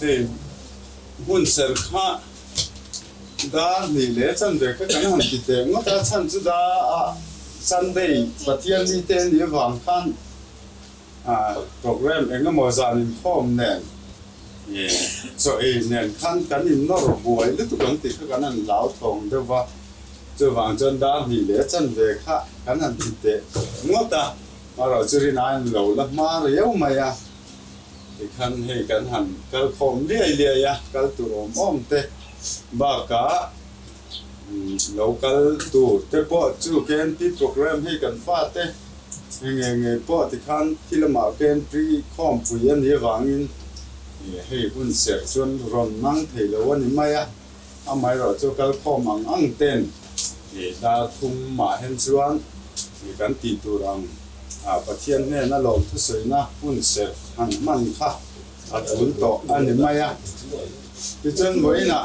Heng hmun serh kha dar hnih leh chanve kha kan han ti teh ngawt a, chhan chu da a Sunday Pathian ni te ni avang khan program eng emaw zan inkhawm nen chaw ei nen khan kan innawr buai lutuk ang tih kha kan han lau thawng deuh a, chuvang chuan dar hnih leh chanve kha kan han ti teh ngawt a, maroh chu rin ain lo la hma riau mai a, Tikhan hei kan han kal khawm liai liai a, kal tur awm awm te bakah lo kal tur te pawh chu KNP programme hei kan fa te eng nge nge pawh tikhan khi lamah KNP khawmpui a ni avangin hei hun serh chuan rawn mang thei lo a ni mai a. Amaherawh chu kal khawm ang ang ten darthum mah hen chuan kan tih tur ang, Pathian hnena lawm thusawiina hun serh han hman kha a tul tawh a ni mai a. Tichuan vawiinah.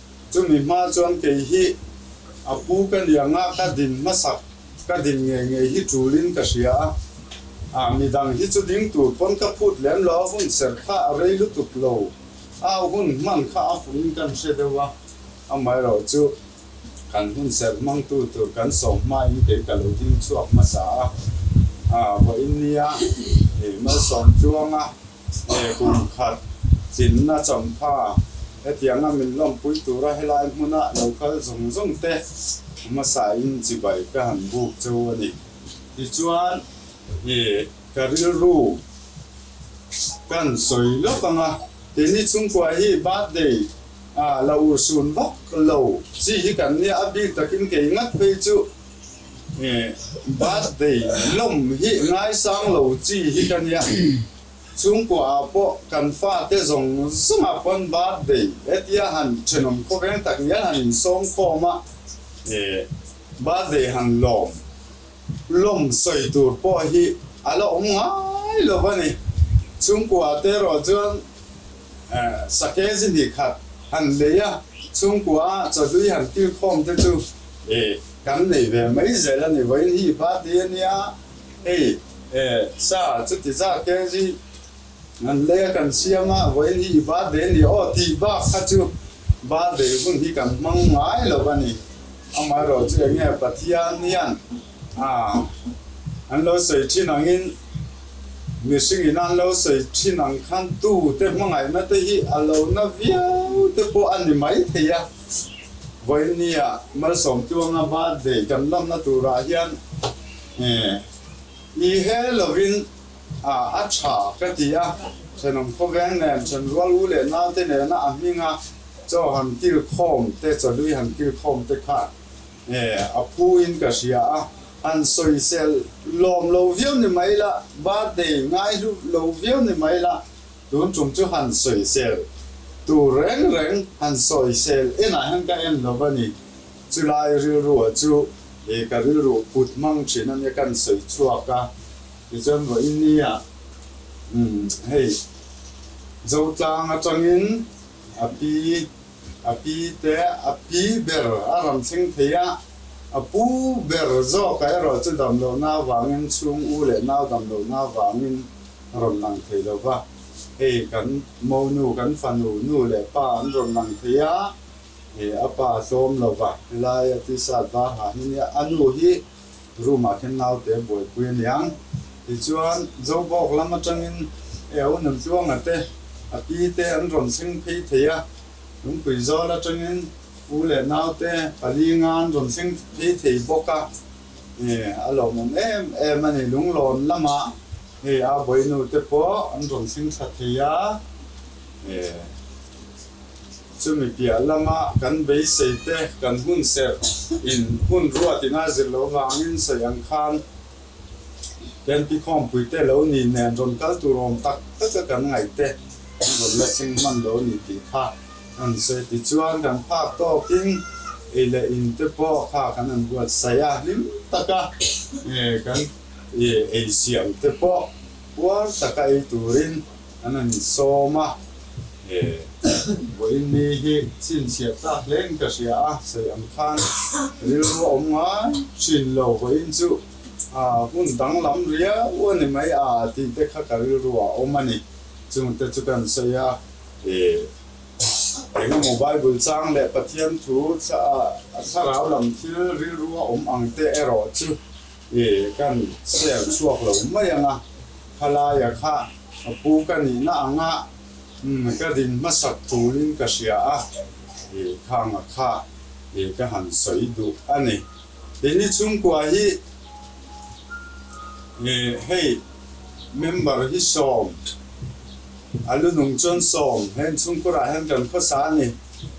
Chumi hma chuan kei hi a pu ka ni ang a, ka din hmasak, ka din ngei ngei hi tulin ka hria a. Ah, midang hi chu ding tur pawn ka phut lem lo, a hun serh kha a rei lutuk lo, au hun hman kha a fuhin kan hre deuh a, amaherawh chu kan hun serh hmangtu tur kan sawm hmain kei ka lo ding chhuak hmasa a, ah, vawiin nia, ih, malsawm tluanga. Hne kum khat chinna chawmpha hetianga min lawmpui tura helai hmuna lo kal zawng zawng te hmasain chibai ka han buk chu a ni. Tichuan i ka rilru kan sawi lawk ang a, ti ni chhungkua hi birthday a la ursun vak lo chi hi kan nia a bik takin kei ngat phei chu. Birthday lawm hi ngaisang lo chi hi ka nia. Chhungkua ah pawh kan fa te zawng zawng ah pawn birthday hetia han thenawm khawveng tak hian han in sawm khawm a. Birthday han lawm lawm sawi tur pawh hi a la awm ngai lo a ni. Chhungkua te erawh chuan Sake zi ni khat han nei a, chhungkua a chahlui han kil khawm te chu kan nei ve mai zel a ni. Vawiin hi party a nia, hei sa chuti zake zi han lei a kan siam a, vawiin hi i birthday a ni aw tih bak kha chu birthday hun hi kan hmang ngai lo a ni. Amaherawhchu enge Pathian hian Aa, an lo sawi thin angin mihring ina an lo sawi thin ang khan tute hmangaihna te hi a lo na viau te pawh a ni mai thei a. Vawinia Malsawmtu anga birthday kan lanna turah hian i he lovin a tha ka ti a, thenawm khawveng nen, thenrual u leh nau te nena a hminga chaw han kilkhawm te, chawlui han kilkhawm te kha He a phuin ka hria a, han sawisel lawm lo viau ni mai la, birthday ngaihlu lo viau ni mai la, tun ṭum chu han sawisel tur reng reng han sawisel enah hian ka en lo va ni. Chulai rilruah chu he ka rilru put hmang ṭhin ania kan sawi chhuak a, tichuan vawi nia umm hei Zotlang aṭangin a pi A pi te a pi ber a rawn thleng thei a, a pu ber zawkah erawh chu damlohna avangin chhung u leh nau damlohna avangin a rawn lang thei lo va, hei kan monu kan fanu nu leh pa an rawn lang thei a, he a pa hlawm lo va, helai a tisat va ha hi nia, a nu hi. Room ah khian naute buaipui a ni ang. Tichuan, Jobawk lam atangin Eo nun tluanga te, a pi te an rawn seng phei thei a. Lungpui zawl atangin U leh Nau te pali nga an rawn seng phei thei bawk a. Hei, a lawmawm em em a ni. Lunglawn lamah hei a bawinu te pawh an rawn seng tha thei a. Hei. Chumi piah lama kan beisei te kan hun serh in hun ruat in a zir lo vang in sawi ang khan Kenti khawmpui te lo nih nen rawn kal tur awm tak tak a kan ngaih te an rawn la thleng hman lo nih tih kha an sawi ti chuan kan phak tawk in ei leh in te pawh kha kan an buat saih a hlim tak a kan ei siam te pawh puar tak a ei tur in An rawn insawm a, vawiin ni hi chhinchhiat ta hleng ka hria a, sawi ang khan rilru a awm ngai thin lo, vawiin chu hmun danglam riau a ni mai a tih te kha ka rilru a awm a ni, chung te chu ka rawn sawi a, engemaw Bible chang leh Pathian thu thla rau lam thil rilru a awm ang te erawh chu He kan share chhuak lo mai ang a, khalaia kha ka pu ka nih na anga ka din hmasak tulin ka hria a, khanga kha ka han sawi duh a ni. Keini chhungkua hi hei member hi sawm, a lu nung chuan sawm, heng chhungkurah hian kan khawsa a ni.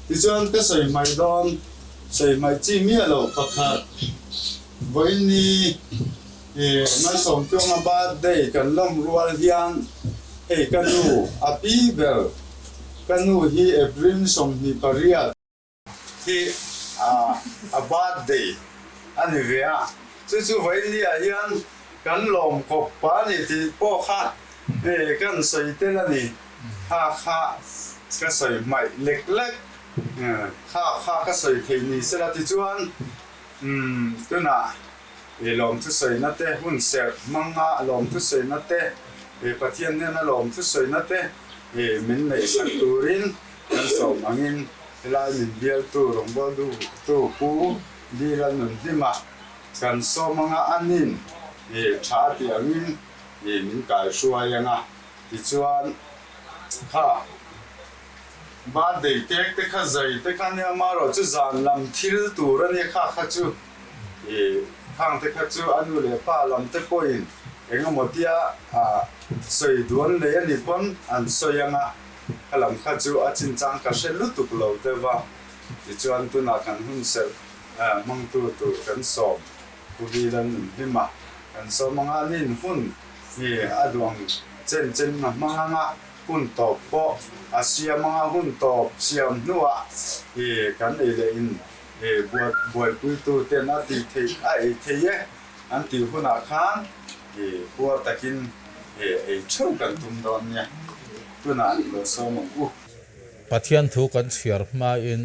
Tichuan ka sawi hmai dawn, sawi hmai chi miah lo pakhat. Vawiini ih Mai Sawmtuanga birthday kan lawm rual hian hei ka nu a pi ber ka nu hi April sawmhnih pariat hi ah a birthday a ni ve a chu chu Vawiini ah hian kan lawm kawp a ni tih pawh kha eh kan sawi tel a ni kha kha ka sawi hmaih lek lek kha kha ka sawi thei ni sela tichuan Umm, tunah he lawmthusawiina te, hun serh hmanga lawmthusawiina te, he Pathian nena lawmthusawiina te hi min neih sak turin kan sawm angin helai min bialtu rawngbawl duhtu Pu Dila nun hlima kan sawm anga a nin hi tha tih angin hi min kaihruai anga tichuan kha Birthday cake te kha zai te kha nia mah erawh chu zan lam thil tur a nia kha kha chu i khang te kha chu a nu leh pa lam te pawhin engemaw tia a sawi duan leh a ni pawn an sawi ang a kha lam kha chu a chin chang ka hre lutuk lo te va tichuan tunah kan hun serh hmangtu tur kan sawm pu Vila nun hlim a kan sawm anga ni in hun hi a duang chen chen a hmang ang a. Hun tawp pawh a siam anga hun tawp siam hnuah i kan ei leh in i buat buaipuitu ten a ti thei a ei thei e an tih hunah khan i huar takin i ei theuh kan tum dawn nia tunah i lawsawm ang u. Pathian thu kan chhiar hmain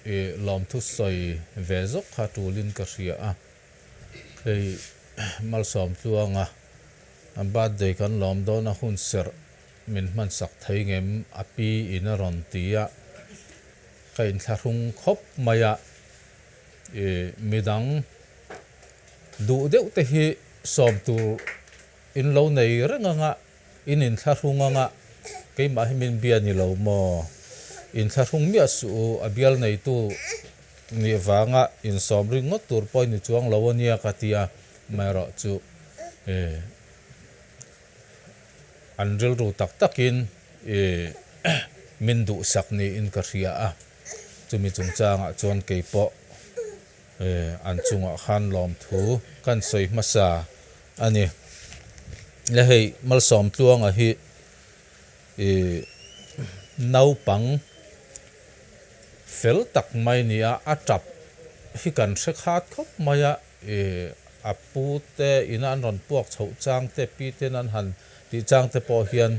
i lawmthu sawi ve zawk kha tulin ka hria a, Hei malsawm tluanga birthday kan lawm dawna hun serh min hmansak thei ngem a pi in a rawn ti a, ka inthlahrung khawp mai a, midang duh deuh te hi sawm tur in lo nei reng ang a. In inthlahrung anga keimah hi min bia ni lo maw? Inthlahrung miah suh u, a bial neitu nih vanga insawm ringawt tur pawh i ni chuang lo a nia ka ti a, amaherawh chu i an rilru tak takin i min duhsak niin ka hria a, chumi chungchangah chuan kei pawh i an chungah khan lawmthu kan sawi hmasa. A ni. Le hei malsawm tluanga hi i naupang fel tak mai ni a, a tap hi kan hre khat khawp mai a, i a pu te ina an rawn puak chho chang te pi ten an han tih chang te pawh hian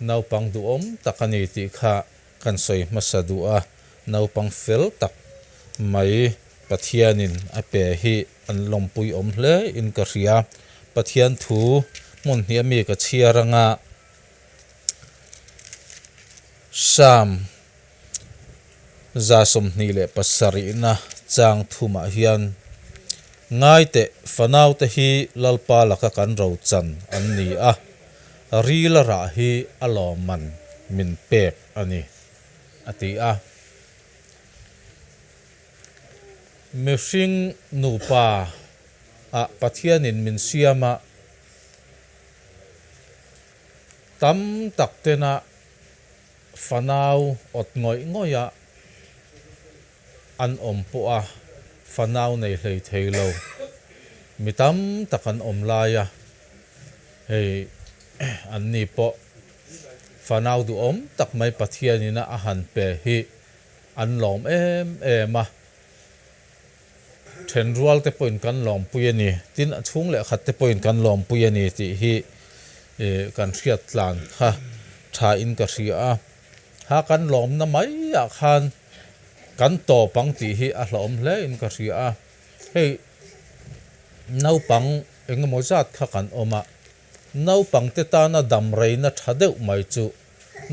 naupang duhawm tak a ni tih kha Kan sawi hmasa duh a, naupang fel tak mai Pathianin a pe hi an lawmpui awm hle in ka hria. Pathian thu hmun hniah mi ka chhiar anga Psalm za sawmhnih leh pasarihna chang thumah hian, Ngaiteh, fanaute hi Lalpa laka kan rochan an ni a. Rilara hi a lawmman min pek a ni, a ti a. Mihring nupa a Pathianin min siam a, tam tak tena fanau awt ngawih ngawih a an awm pawh a fanau nei hlei thei lo. Mi tam tak an awm lai a, hei an ni pawh fanau duhawm tak mai Pathianin a han pe hi an lawm em em a. Then rualte pawhin kan lawmpui a ni, tin a chhung leh khat te pawhin kan lawmpui a ni tih hi kan hriattlan kha thain ka hria a. Ha kan lawmna maiah khan. Kan tawp ang tih hi a hlauhawm hle in ka hria a, hei naupang engemaw zat kha kan awm a, naupang te tana damreina tha deuh mai chu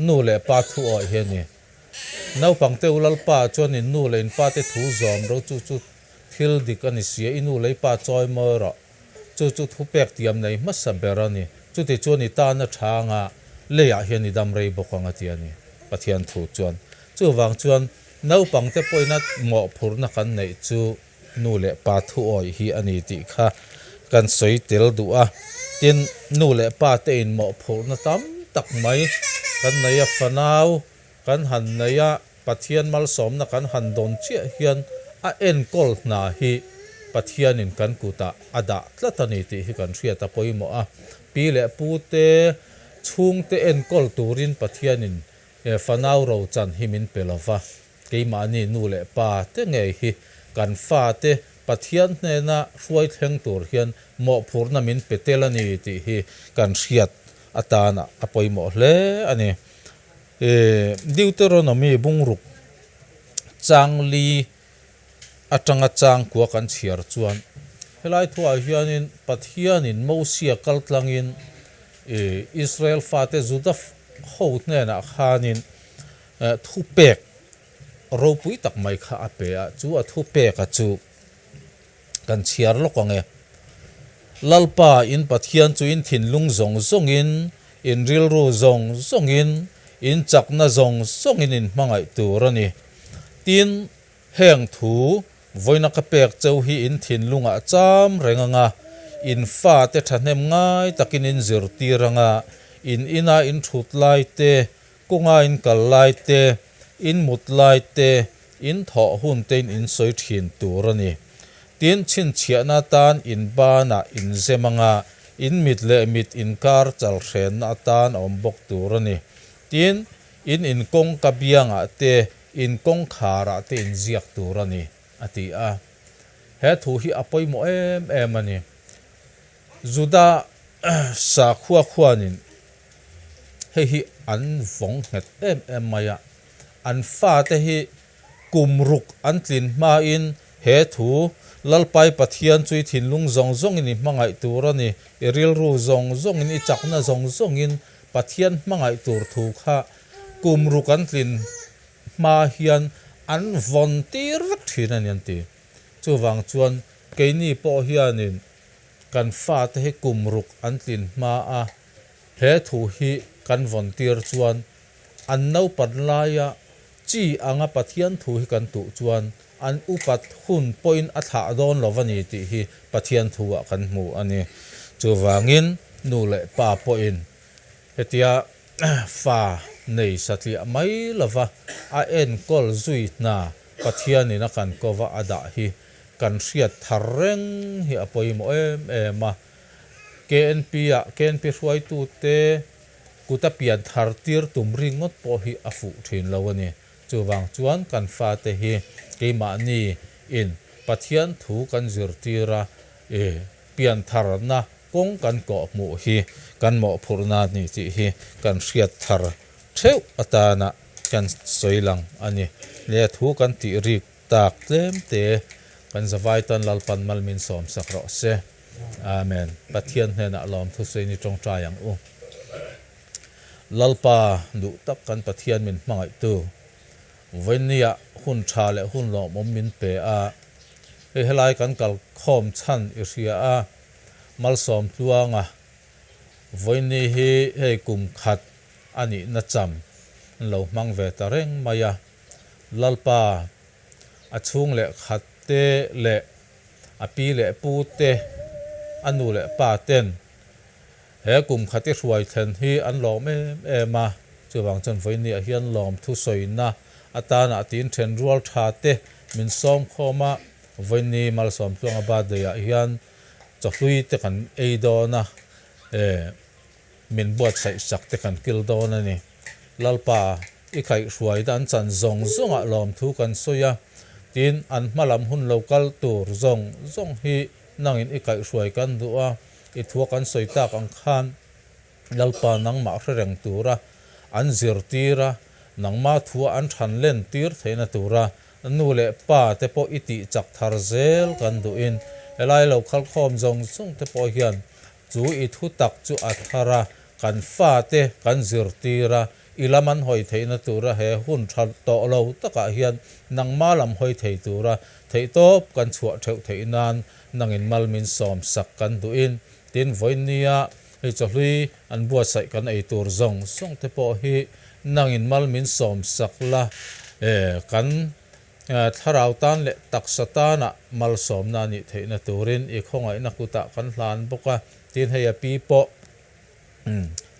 nu leh pa thu awih hi a ni. Naupang te u lalpa chuan in nu leh in pa te thu zawm ro chu chu thil dik a ni sia, i nu lei pa chawi mawi rawh. Chu chu thupek tiam nei hmasa ber a ni. Chutichuan i tan a tha anga leiah hian i dam rei bawk ang a ti a ni Pathian thu chuan. Chuvang chuan naupangte pawhina mawhphurna kan neih chu nu leh pa thuawih hi a ni tih kha kan sawi tel duh a. Tin, nu leh pate in mawhphurna tam tak mai kan nei a fanau. Kan han nei a, Pathian malsawmna kan han dawn chiah hian a enkawl hna hi Pathianin kan kutah a dah tlat a ni tih hi kan hriat a pawimawh a. Pi leh pu te, chhung te enkawl turin Pathianin fanau rochan hi min pe lova. Keimahni nu leh pa te ngei hi kan fate Pathian hnena hruai thleng tur hian mawhphurhna min pe tel a ni tih hi kan hriat atana a pawimawh hle a ni. E. Deuteronomy bungruk changli atanga chang kua kan chhiar chuan helai thuaah hianin Pathianin Mosia kal tlangin e Israel fate Juda ho hnenah khanin e thupek ropui tak mai kha a pe a, chu a thupeka chu kan chhiar lawk ang e. Lalpa in Pathian chu in thinlung zawng zawngin, in rilru zawng zawngin, in chakna zawng zawngin in hmangaih tur a ni. Tin, heng thu vawiina ka pek cheu hi in thinlungah cham reng anga, in fate thahnem ngai takin in zirtir anga, in ina in thut laite Kawnga in kal lai te, in mut lai te, in thawh hun te in in sawi thin tur a ni. Tin, chhinchhiahna atan in banah in zem anga in mit leh mit in kar chalhrenna atan a awm bawk tur a ni. Tin, in in kawngka biangah te, in kawngkharah te in ziak tur a ni, a ti a. He thu hi a pawimawh em em a ni. Juda sakhua khuanin hei hi an vawng nghet em em mai a, an fate hi kum ruk an tlin hmain he thu Lalpai Pathian chu i thinlung zawng zawngin i hmangaih tur a ni, i rilru zawng zawngin, i chakna zawng zawngin Pathian hmangaih tur thu kha kum ruk an tlin hma hian an vawn tir vek thin a ni an ti. Chuvang chuan keini pawh hianin. Kan fate hi kum ruk an tlin hma a, he thu hi kan vawn tir chuan an naupat laia chi anga Pathian thu hi kan tuh chuan an upat hun pawhin a thlah dawn lo va ni tih hi Pathian thu-ah kan hmu a ni. Chuvangin nu leh pa pawhin hetia fa nei satliah mai lova a enkawl zui hna Pathianin a kan kova a dah hi kan hriat thar reng hi a pawimawh em em a, KNP-ah KNP hruaitute kuta pian thar tir tum ringawt pawh hi a fuh thin lo a ni. Chuvang chuan kan fate hi keimahni in Pathian thu kan zirtir a, i pian tharna kawng kan kawh hmuh hi kan mawhphurhna ni tih hi kan hriat thar theuh atana kan sawi lang a ni. Nia thu kan tih rik tak tlem te kan zavai tan Lalpan mal min sawm sak rawh se Amen Pathian hnenah lawmthusei ni tawngtai ang u Lalpa duh tak kan Pathian min hmangaihtu Vawinia hun tha leh hun lawm awm min pe a hei helai kan kalkhawm chhan i hria a malsawm tluanga Vawini hi hei kum khat a nihna cham inlo hmang ve ta reng mai a. Lalpa, a chhung leh khat te leh a pi leh pu te, a nu leh pa ten he kum khat i hruai thlen hi an lawm em em a, chuvang chuan Vawinia hian lawm thu sawina atanah tiin then rual tha te min sawm khawm a, Vawini malsawm tluanga birthday-ah hian chawhlui te kan ei dawn a, e. Min buatsaih sak te kan kil dawn a ni. Lalpa, i kaihhruai dan chan zawng zawngah lawmthu kan sawi a, tin an hma lam hun lo kal tur zawng zawng hi nangin i kaihhruai kan duh a, i thua kan sawi tak ang khan Lalpa nangmah hre reng tura an zir tir a, nangma thua an than len tir theihna tura nu leh pa te pawh i tih chak thar zel kan duhin helai lo khalkhawm zawng zawng te pawh hian Chu i thutak chu a thar a, kan fate kan zirtir a, i lam an hawi theihna tura he hun tha tawh lo takah hian nangma lam hawi thei tura theihtawp kan chhuah theuh theih nan nangin mal min sawm sak kan duhin tin Vawinia hei chawhlui an buatsaih kan ei tur zawng zawngte pawh hi nangin mal min sawm sak la kan Thlarau tan leh taksa tana malsawmna anih theihna turin i khawngaihna kutah kan hlan bawk a. Tin, hei a pi pawh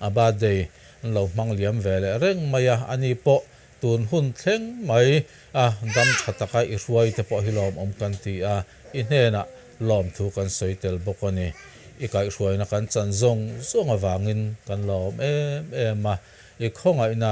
a birthday an lo hmang liam ve leh reng mai a, ani pawh tun hun thleng mai a dam tha taka i hruai te pawh hi lawmawm kan ti a, i hnenah lawm thu kan sawi tel bawk a ni. I kaihhruaina kan chan zawng zawng avangin kan lawm em em a, i khawngaihna